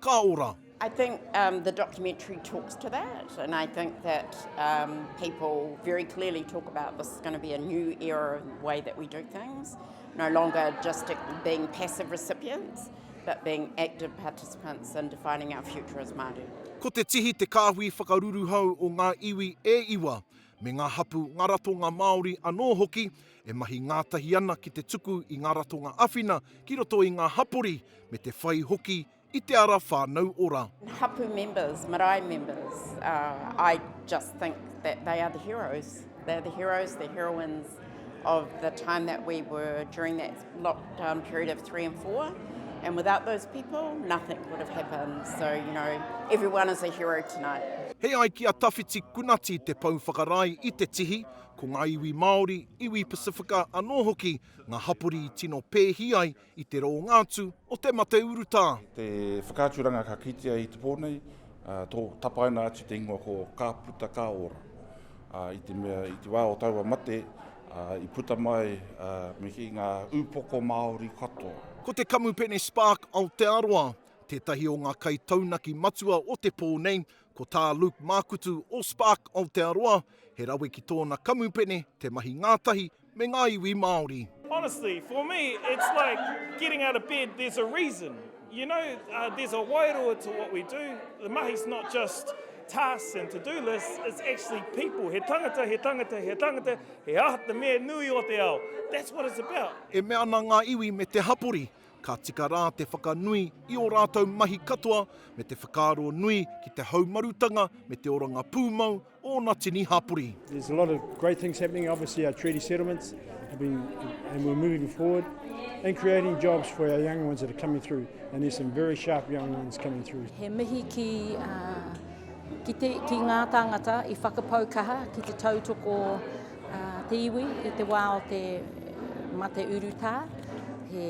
Ka ora! I think um, the documentary talks to that, and I think that um, people very clearly talk about this is going to be a new era in the way that we do things, no longer just being passive recipients, but being active participants in defining our future as Māori. Ko te tihi te kāhui whakaruruhau o ngā iwi e iwa, me ngā hapu, ngā ratonga Māori anō hoki, e mahi ngātahi ana ki te tuku i ngā ratonga awhina ki roto i ngā hapori me te whai hoki i te ara whānau ora. Hapu members, marae members, uh, I just think that they are the heroes. They are the heroes, the heroines of the time that we were during that lockdown period of three and four. And without those people, nothing would have happened. So, you know, everyone is a hero tonight. He ai ki a Tawhiti Kunati te pou whakarae i te tihi, Ko ngā iwi Māori, iwi Pasifika anō hoki ngā hapori i tino pēhi ai i te rōnga atu o te mate urutā. Te whakaaturanga ka kitea i te pō nei, tō tapaina atu te ingoa ko Ka Puta Ka Ora. I te mea, i te wā o taua mate, i puta mai me kī ngā ūpoko Māori katoa. Ko te Kamupene Spark Aotearoa tētahi o ngā kaitaunaki matua o te pō nei, Ko tā Luke Mākutu o Spark Aotearoa, he rawe ki tōna kamupene te mahi ngātahi me ngā iwi Māori. Honestly, for me, it's like getting out of bed, there's a reason. You know, there's a wairua to what we do. The mahi's not just tasks and to-do lists, it's actually people. He tangata, he tangata, he tangata, he aha te mea nui o te ao. That's what it's about. E mea ana ngā iwi me te hapori, Ka tika rā te whakanui i ō rātou mahi katoa me te whakaaro nui ki te haumarutanga me te oranga pūmau o ōna tini hapori. There's a lot of great things happening, obviously our treaty settlements have been, and we're moving forward and creating jobs for our young ones that are coming through and there's some very sharp young ones coming through. He mihi ki, uh, ki, te, ki ngā tāngata i whakapau kaha ki te tautoko Te iwi i te wā o te mate urutā, he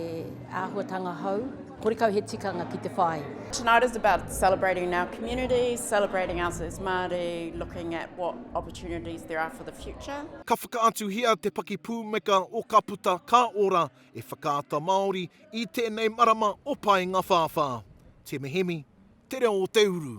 āhuatanga hou. Horekau he tikanga ki te whai. Tonight is about celebrating our community, celebrating us as Māori, looking at what opportunities there are for the future. Ka whakaatuhia te pakipūmeka o Ka Puta Ka Ora e Whakaata Māori i tēnei marama o Paenga Whāwhā. Te Mehemi, Te Reo o te Uru.